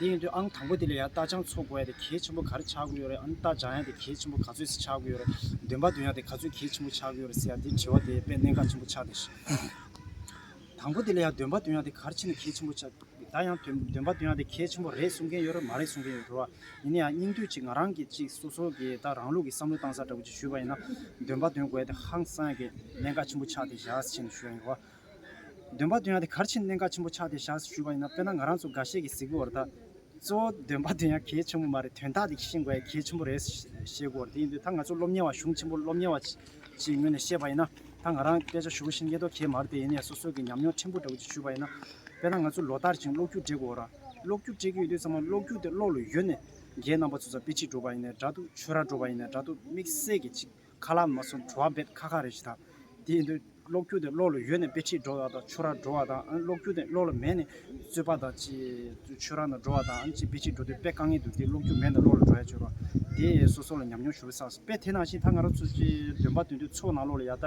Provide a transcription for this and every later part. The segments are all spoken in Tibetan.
དེ་ཡིན་དུས་ཨང་དང་པོ་དེ་ལས་ཡང་རྟ་ལྗང་འཚོ་དགོས་ཡ་དེ་གལ་ཆེན་པོ་ག་རེ་ཆགས་དགོས་ཡོད་རེད་ཨ་ནི་རྟ་ལྗང་ཡ་དེ་གལ་ཆེན་པོ་ག་ཚོད་ཟིག་ཆགས་དགོས་ཡོད་རེད་འདོན་པ་འདོན་ཡ་དེ་ག་ཚོད་གལ་ཆེན་པོ་ཆགས་དགོས་ཡོད་རེད་ཟེར་ཡ་དེ་དྲི་བ་དེ་དཔེ་གནད་འགག་ཆེན་པོ་ཆགས་འདུག་ཤིང། དང་པོ་དེ་ལས་ཡང་འདོན་པ་འདོན་ཡ་དེ་གར་ཕྱིན་ན་གལ་ཆེན་པོ་ཆགས་ད་ཡང་འདོན་པ་འདོན་ཡ་དེ་གལ་ཆེན་པོ་རེད་གསུང་མཁན་ཡོད་རེད་མ་རེད་གསུང་མཁན་ཡོད་རེད་བ་ཡིན་ན་ཡང་སྙིང་བསྡུས་ཅིག་ང་རང་གིས་ཅིག་སོ་སོ་གིས་ད་རང་ལུགས་ཀྱི་བསམ་བློ་བཏང་ས་འདྲ་པོ་ཅིག་ཞུས་པ་ཡིན་ན་འདོན་པ་འདོན་དགོས་ཡ་དེ་ཧང་སངས་གལ་གནད་འགག་ཆེན་པོ་ཆགས་ཏེ་བཞག་ཟེར་བཞིན་དུ་ཞུས་ཡོད་རེད་བ། འདོན་པ་འདོན་ཡག་དེ་གར་ཕྱིན་གནད་འགག་ཆེན་པོ་ཆགས་ཏེ་བཞག་ཞུས་པ་ཡིན་ན་དཔེར་ན་ང་རང་ཚོ་འགའ་ཤས་ཀྱིས་གཟིགས་འོར་ད། གཙོ་བོ་འདོན་པ་འདོན་ཡག་གལ་ཆེན་པོ་མ་རེད་དོན་དག་དེ་ཤེས་དགོས་ཡག་གལ་ཆེན་པོ་རེད་ཞེས་གོ་དེ་ཡིན་དུས་ད་ང་ཚོ་སློབ་གཉེར་བ་གཞུང་ཆེན་པོར་སློབ་གཉེར་བ་ཞིག་ངོས་ནས་བཤད་པ་ཡིན་ན་ད་ང་རང་སྐད་ཆ་ཞུ་བཞིན་ཡེ་དོ་གལ་མ་རེད་དེ་ཡིན་ནས་སོ་སོ་གྱི་ཉམས་མྱོང་ཕྲན་བུ་འདྲ་བོ་ཅིག་ཞུས་པ་ཡིན་ན། དཔེར་ན་ང་ཚོ་ལོ་ལྟར་ཞིང་གློག་རྒྱུགས་སྤྲད་དགོས་ར་གློག་རྒྱུགས་སྤྲད་ཀྱི་ཡོད་དུས་ཚང་མ་གློག་རྒྱུགས་དེ་གློག་ལ་ཡོད་ནས་རྒྱའི་རྣམ་པ་ཚོ་ཚ་དཔེ་ཁྲིད་འགྲོ་བ་ཡིན་ནས་འདྲ་འདུག་ཆོས་ར་འགྲོ་བ་ཡིན་ནས་འདྲ་འདུག་དམིགས་བསལ་གྱི་ཆིག་ཁ་ལག་མ་སོགས་བྲོ་བ་འབེབས་ཁ་ཁ་རེ་བྱེད། དེ་ཡིན་དུས་གློག་སྐྱུག་དེ་གློག་ལ་ཡོད་ནས་དཔེ་ཁྲིད་འགྲོ་བ་དང་ཆོས་རར་འགྲོ་བ་དང་གློག་སྐྱུག་དེ་གློག་ལ་མེད་ནས་རྩོད་པ་དང་ཅེས་ཆོས་ར་ན་འགྲོ་བ་དང་ཅེས་དཔེ་ཁྲིད་འགྲོ་དུས་དཔེ་དཀའ་ངལ་འདུག་དེ་གློག་སྐྱུག་མེད་ན་གློག་ལ་འགྲོ་ཡ་ཆོས་ར་དེས་སོ་སོ་ལ་ཉམས་མྱོང་ཞུ་བའི་ས་དཔེ་དེ་ནང་བཞིན་ད་ང་རང་ཚོ་ཚོའི་འདོན་པ་འདོན་དུས་ཚོགས་ནང་གློག་ལ་ཡར་ལྟ་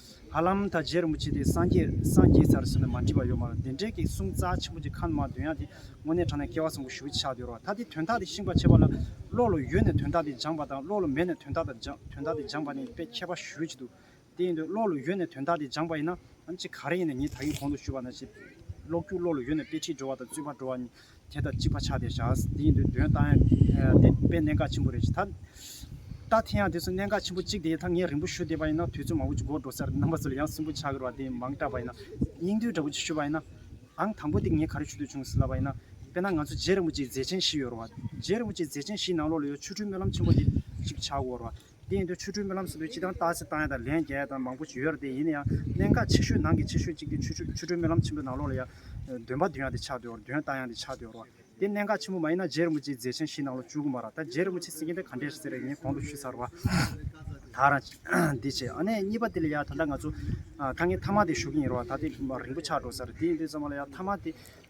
ཧ་ལམ་ད་རྗེས་རིན་པོ་ཆེ་དེ་སངས་རྒྱས་སངས་རྒྱས་ཚར་གསོལ་ནས་མ་འདྲིས་པ་ཡོད་མ་རུང་བདེན་བྲལ་གྱི་གསུང་རྩ་ཆེན་པོ་གྱི་ཁ་ནུ་མ་བདུན་ཡང་དེ་དངོས་གནས་དྲངས་ནས་སྐལ་བ་བཟང་པོ་ཞུ་ཕྱག་འདོད་རོགས་ད་དེ་དོན་དག་དེ་ཤིང་པར་བྱེད་པ་ལ་བློ་ལ་ཡོད་ནས་དོན་དག་དེ་སྦྱངས་པ་དང་བློ་ལ་མེད་ནས་དོན་དག་དང་དོན་དག་དེ་སྦྱངས་པ་ནི་དཔེ་ཁྱད་པ་ཞུ་ཡི་འདུག་དེ་ཡིན་དུས་བློ་ལ་ཡོད་ནས་དོན་དག་དེ་སྦྱངས་པ་ཡིན་ན་ནམ་ཅི་ག་རེ་ཡིན་ནས་ངས་ད་ཡིན་གོང་དུ་ཞུས་པ་ན་ཞེས་ཀློག་རྒྱུགས་བློ་ལ་ཡོད་ནས་དཔེ་ཁྲིད་འགྲོ་བ་དང་རྩོད་པ་འགྲོ་བ་གཉིས་དེ་དང་གཅིག་པ་ཆགས་ཏེ་བཞག་དེ་ཡིན་དུས་དོན་ལྟ་ཡང་དེ་དཔེ་གནད་འགག་ཆེན་པོ་རེད་ཅེས་ཐ་ལྟ་དེ་ཡང་དེ་ཚོ་གནད་འགག་ཆེན་པོ་གཅིག་དེ་ད་ངས་རིང་པོ་ཞུ་བསྡད་པ་ཡིན་ན་དུས་ཚོད་མང་པོ་ཅིག་འགོར་འགྲོ་ས་རེད་རྣམ་པ་ཚོ་ལ་ཡང་སུན་པོ་ཆགས་ཀྱི་རེད་བ་དེ་མང་དྲགས་པ་ཡིན་ན་སྙིང་དོན་འདྲ་པོ་ཅིག་ཞུ་བ་ཡིན་ནའང་དང་པོ་དེ་ངས་ག་རེ་ཞུ་འདོད་བྱུང་ཟེར་ལབ་པ་ཡིན་ན་དཔེར་ན་ང་ཚོ་རྗེ་རིན་པོ་ཆེའི་མཛད་ཆེན་བཞི་ཡོད་རེད་བ། རྗེ་རིན་པོ་ཆེའི་མཛད་ཆེན་བཞིའི་ནང་ལོགས་ལ་ཡོད་ཆུ་ཁྲུའི་སྨོན་ལམ་ཆེན་པོ་དེ་གཅིག་ཆགས་འོང་རེད་བ། དེ་ཡིན་དུས་ཆོས་འཕྲུལ་སྨོན་ལམ་ཟེར་དུས་ཅི་དང་ལྟ་ཅི་བཏང་ཡ་དང་ལན་བརྒྱ་ཡ་དང་མང་པོ་བྱོས་ཡོད་ར་དེ་ཡིན་ན་ཡང་གནད་འགག་ཆེ་ཤོས་ནང་གི་ཆེ་ཤོས་གཅིག་དེ་ཆོས་འཕྲུལ་སྨོན་ལམ་ཆེན་པོའི་ནང་ལོགས་ལ་ཡ། འདོན་པ་བདུན་ཡ་དེ་ཆགས་སྡོད་འོར་འདོན་ལྟ་ཡང་དེ་ཆགས་སྡོད་འོར་བ། དེ་གནད་འགག་ཆེན་པོ་མ་ཡིན་ན་རྗེ་རིན་པོ་ཆེའི་མཛད་ཆེན་བཞི་ནང་ལོགས་བཅུ་དགུ་མ་ར་ད་རྗེ་རིན་པོ་ཆེ་སེང་གེ་འདི་ག་འདྲས་རེད་ཟེར་བའི་ངས་གོང་དུ་ཞུས་ཚར་བ། ད་ར། འདི་བྱས་ཨ་ནས་གཉིས་པ་དེ་ལ་ཡ་ད་ལྟ་ང་ཚོ། དཀའ་ངལ་མཐའ་མ་དེ་ཞུ་གིན་ཡོད་ར་བ་ད་དེ་རིང་པོ་ཆགས་འགྲོ་ས་རེད་དེ་ཡིན་དུས་ཚང་མ་ལ་ཡ་མཐའ་མ་དེ།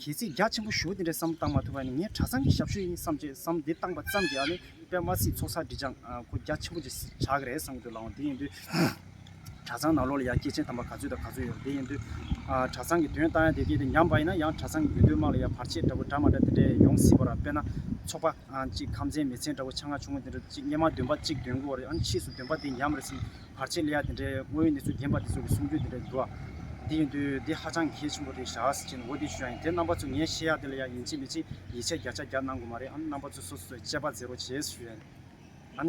གལ་སྲིད་རྒྱ་ཆེན་པོ་ཞོ་དེ་འདྲ་བསམ་བློ་བཏང་མ་ཐུབ་པ་ནི་ངའི་གྲྭ་ཚང་གི་ཞབས་ཞུ་ཡིན་བསམ་བྱས་སམ་དེ་བཏང་པ་ཙམ་གྱིས་ཨ་ནི་པདྨ་སྲིད་ཚོགས་ས་འབྲི་སྦྱངས་ཁོ་རྒྱ་ཆེན་པོ་ཅིག་ཆགས་ཀྱི་རེད་བསམ་གྱི་འདུག་ལའང་དེ་ཡིན་དུས་གྲྭ་ཚང་ནང་ལོགས་ལ་ཡང་སྐྱེས་ཆེན་དམ་པ་ག་ཚོད་དང་ག་ཚོད་ཡོད་རེད་དེ་ཡིན་དུས་གྲྭ་ཚང་གི་དོན་བཏང་ཡང་དེ་སྐད་དེ་ཉམས་པ་ཡིན་ན་ཡང་གྲྭ་ཚང་གི་དགོས་འདོད་དམངས་ལ་ཡང་བར་ཆད་འདྲ་པོ་འདྲ་མ་འདྲ་དེ་འདྲ་ཡང་ཡོང་སྲིད་པ་ར་དཔེར་ན་ཚོགས་པ་གཅིག་ཁམས་ཚན་མི་ཚན་འདྲ་པོ་ཆ་ང་ཆུང་ངུ་དེ་འདྲ་གཅིག་སྙེ་མ་འདོན་པ་གཅིག་འདོན་དགོས་བ་རེད་ཨ་ནི་ཕྱིས་སུ་འདོན་པ་དེ་ཉམས་རེད་བསམ་བར་ཆད་ལས་ཡ་དེ་འདྲའི་དངོས་ཡོད་གནས་ཚུལ་རྒན་པ་འདི་ཚོ་གི་གསུང་རྒྱུན་དེ་འདྲ་འདུག་ཨ། དེ་ཡིན་དུས་འདི་ཧ་ཅང་གལ་ཆེན་པོ་རེད་ཞག་ཅིག་ནས་འོ་དེ་ཞུ་ཡ་ཡིན་དེ་རྣམ་པ་ཚོས་ངས་ཤེས་ཡ་དེ་ལ་ཡ་ཡིན་ཅིག་མི་ཅིག་ཡིད་ཆེས་བརྒྱ་ཆ་བརྒྱ་གནང་དགོས་མ་རེད་ཨ་རྣམ་པ་ཚོས་སོ་སོས་དཔྱད་པ་མཛད་རོགས་བྱས་ཞུ་ཡ་ཡིན་ཨ།